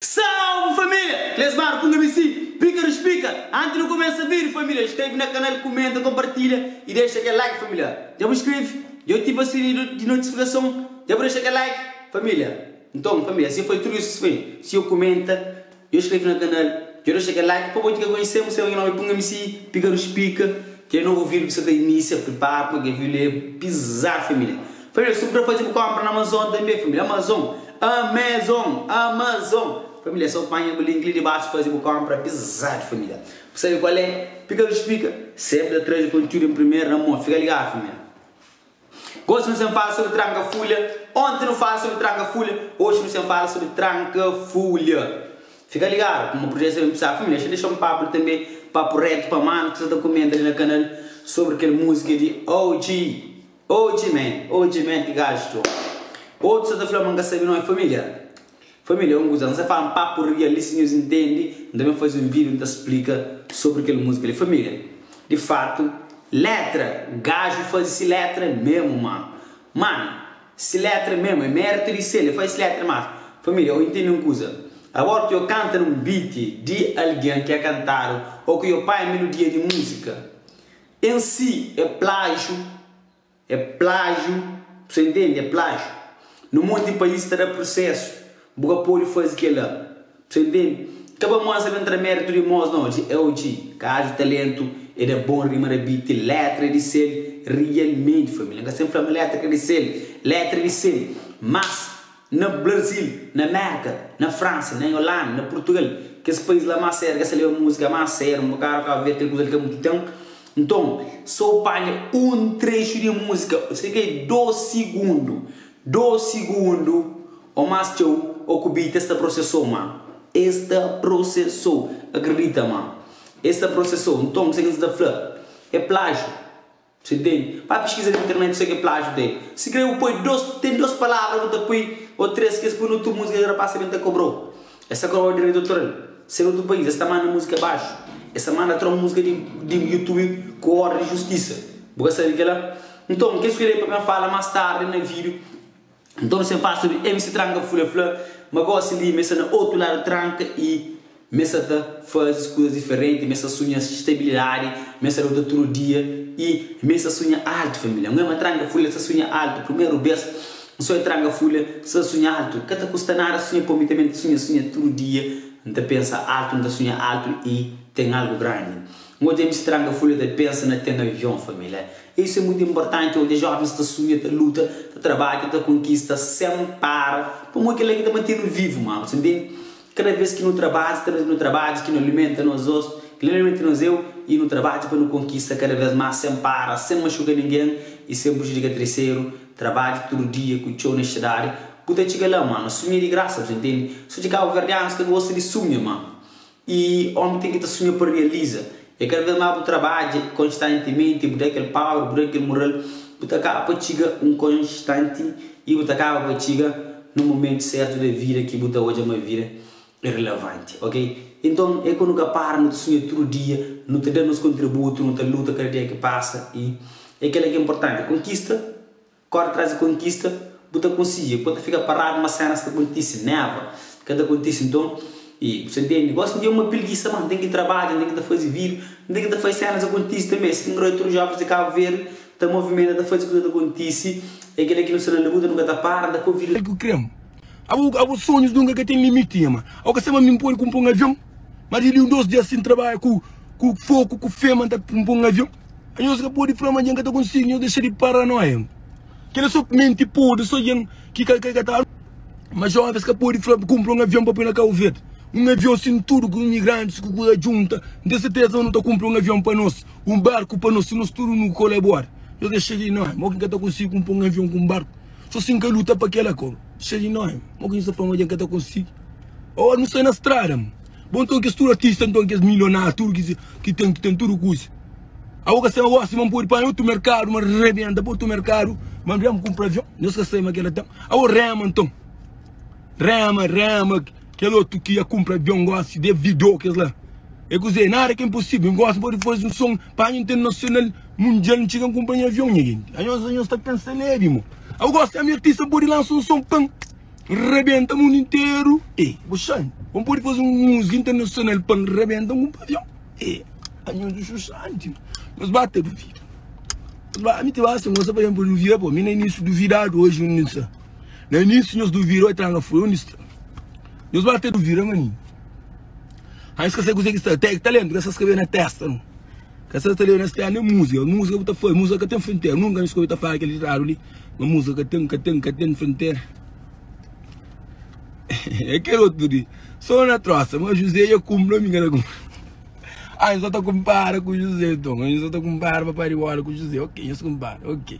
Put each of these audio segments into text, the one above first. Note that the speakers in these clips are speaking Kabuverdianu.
Salve família! Klesmar ku Ngami si pika di spika anti nu kumesa vídeo família inskreve na kanal kumenta konpartilha i dexa kel like família dja bu inskreve dja bu ativa sinidu di notifikason dja bu dexa kel like família nton família si foi tudu isu si foi si yo kumenta Dja inskreve na kanal? Dja dexa kel like? Pa bo ki ka konhesemu seba ki nomi punga mi si pika nos pika. Kel novo vídeo ki sa ta inísia pripara puma kel vídeo li é pizadu família. Família su puder faze bu konpra na Amazon tanbe família Amazon Amazon Amazon família so panha bu link li di basu faze bu konpra pizadu família bu sabe kual é pika nos pika sempri ta traze kontiúdu en primeru na mon fika ligadu família. Gosi nu sen fala sobri tranka fulha Onti nu fala sobri tranka fulha Oxi nu sen fala sobri tranka fulha Fika ligadu kuma prujeti sa ben pisadu Família xa dexa un papu li tanbe Papu retu pa manu ki sa ta kumenta li na kanal Sobri kel musika di OG OG man OG man ki gaji txo Otu sa ta fla ma nka sabe nome Família Família, un kuza, N sta fla un papu rial li, si nhos intende, N ta ben faze un vídiu N ta splika sobri kel múzika li. Família, Di fatu, létra, Gaju faze si létra memu má. Manu, Si létra memu é méritu di Sélia, faze si létra má. Família, Ô intende un kuza, Abóru ki ô kanta na un biti di algen ki é kantadu ô ki ô pai melodia di múzika en si é plájiu, É plájiu, bu sta intendi? É plájiu. Na monti di país ta da prusésu, bu ka pode faze kel-la. Bu sta intendi? Ka ba mansa ben tra méritu di mos na odji, é odji. Ka aju taléntu, é da bon rima da beat. Létra di sel, rialmenti, família. N ka sta ben fla ma létra ka di sel, létra di sel. Más. Na Brazil, na Mérka, na Fransa, na Yolanda, na Purtugal, kes país la más séru, es ta leba múzika más séru. N bu ka ka obi kel kuza li ka mutu ténpu. Nton, sô panha un trexu di múzika, serka di dôs sigundu, dôs sigundu ô más txeu, ô ku beat. Es ta prosesô ma. Es ta prosesô. Akredita ma. Es ta prosesô. Nton, kuzê ki N sta ta fla? É plájiu. Você tem. Faz pesquisa na internet só que plágio tem. Se crê u poi dos, tem dos palavra que u ta poi ou três que es poi na otu música que rapaz também ta cobrou. Es sa cobrou direito autoral. Se na otu país es ta manda música abaixo, es sa manda tron música di di youtube ku ordem di justiça. Bu ka sabe kela? Nton, kes ku lei pa ben fala mas tarde na vídeo. Nton se pasa di el si tranka fula fla ma gosi li ma e sta na otu ladu tranka i ma e sta ta fazi kuzas diferenti ma e sta sunha stabilidadi ma e sta luta tudu dia i ma e sta sunha altu familia ngoe ma tranka fula e sta sunha altu primeru bes n so e tranka fula sta ta sunha altu ka ta kusta nada sunha pa mi tanbe n ta sunha sunha tudu dia n ta pensa altu n ta sunha altu i ten algu grandi un otu dia mi si tranka fula ta pensa na ten avion familia Isu é mutu inportanti odja jóvens ta sunha, ta luta, ta trabadja, ta konkista sen para, pamodi kel-la ki ta mante-nu vivu. Má, bu ta ntende? Kada bês ki nu trabadja, kada bês ki nu trabadja, ki nu alimenta nos ós, ki nu alimenta nos eu, i nu trabadja pa nu konkista kada bês más, sen para, sen maxuka ningen i sen prujudika triseru, trabadja tudu dia ku txeu onestidadi, bu ta txiga la. Má, na sunha di grasa, bu ta ntende? Sodje kabuverdianus ta gosta di sunha, má Y omi ten ki ta sunha pa rializa e kada vez más bu trabadja konstantimenti, bu da kel paur, bu da kel mural, bu ta kaba pa txiga un konstanti y bu ta kaba pa txiga na momentu sertu da vida ki bu ta odja ma vida e rilavanti, ok. Inton e ku nu ka para, nu ta sunha tudu dia, nu ta da nos kontributu, nu ta luta kada dia ki pasa y e kela ki importanti, konkista. Kóre traze kontista bu ta konsigi. Pô ta fika paradu ma sénas ka kontise. Néva ka ta kontise nton i bu sabia mi. Gósi mi é uma pilgisa má nten ki trabadja, nten ki ta faze vídiu, nten ki ta faze sénas akontise tanbe. Skin roi tudu jóvens di Kabu Verde ta movimenta ta faze kuza ta kontise. É kel-la ki nu sta na labuta nu ka ta para nta pô vida. Kel ku krê-m abo abo sonhus nunka ka ten limiti nhama au ka sema mi npodi ku npo un avion ma di di un dos dia si ntrabadja ku ku foku ku fema nta npo un avion. Nhos ka pode fla ma djen ka ta konsigi nhos dexa di paranoia kel la so menti podre so djen ki ka ka ta ma joves ka pode fla kunpra un avion pa poi na kabo verde un avion sin tudo ku imigrantes ku kuza djunta n ten certeza ma nu ta kunpra un avion pa nos un barku pa nos si nos tudo nu kolabora nhos dexa di noia mo ki ka ta konsigi kunpra un avion ku un barku so si n ka luta pa kel la ko dexa di noia mo ki nhos ta fla ma djen ka ta konsigi o nu sai na strada mo. Bon nton kes tudu artista nton kes milionáriu tudu kes ki ten ki ten tudu kusa a bo ka sai ósi ma n pode panha otu merkadu ma rebenta pa otu merkadu ma n rema kunpra avion nhos ka sai ma kel la ten a bo rema nton rema rema kel otu ki a kunpra avion gósi de vidô kes la e kuzê nada ka inposível n gósi n pode faze un son panha internasional mundial n txiga n kunpra nha avion nha gentis a nhos a nhos ta pensa lébi mo a bo gósi ami artista n pode lansa un son pan Rebenta mundu interu eh bu xan Bo pode faze un música internacional pa N rebenta un pavion eh Anhos do Xuxa anti nos ba ta duvida Nos ba ami ti ba sen gosta pa ben pa duvida pô Mi na início duvidadu oji undi N sta Na início nhos duvida oi tranga foi undi sta Nhos ba ta duvida mani Anhos ka sai kuzê ki sta Tec talento ka sa skabê na testa nu Ka sa ta leba na stera nen música Música bu ta faz música ka ten frontera Nunka nhos ka oi ta fala kel ditadu li. Ma musa ka ten, ka ten, ka ten frontera É kel otu di Sô na trosa, ma Juzé dja kunpri Ami ka ta kunpri Anha sô ta kunpara ku Juzé nton Anha sô ta kunpara Papa Ribola ku Juzé Ok, nhos kunpara Ok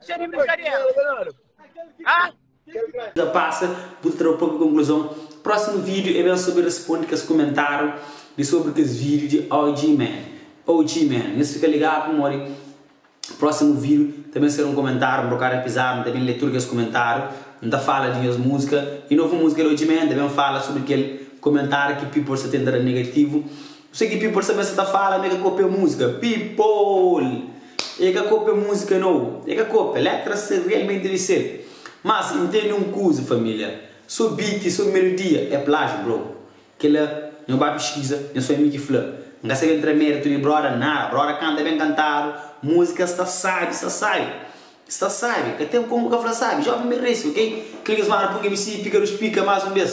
Txeu di brinkadera. Ahh. Ki ta pasa, bu ta tra bu propi konklusãu. Prósimu vídiu é ben sobri responde kes kumentáriu di sobri kes vídiu di OGMan, OG Man. Nhos fika ligadu pamodi prósimu vídiu ta ben ser un kumentáriu, un bokadu apizadu, N ta ben lé tudu kes kumentáriu, N ta fala di nhos múzika. I novu múzika di OGMan ta ben fala sobri kel kumentáriu ki people sta tenta da negativu. Nu sigi people sabe sa ta fala ma e ka kopia musika people e ka kopia musika nau e ka kopia letras se realmente di sel mas intendi un kuza familia so beat so melodia e plagio bro kila nho ba piskiza nho so ami ki fla n ka sabe ntra meritu di broda nada broda kanta ben kantadu musika sta sabi sta sabi sta sabi ka ten komu ka fla sabi jovem ben resi ok kila nhos mara pun mc pika dos pika mas un bes.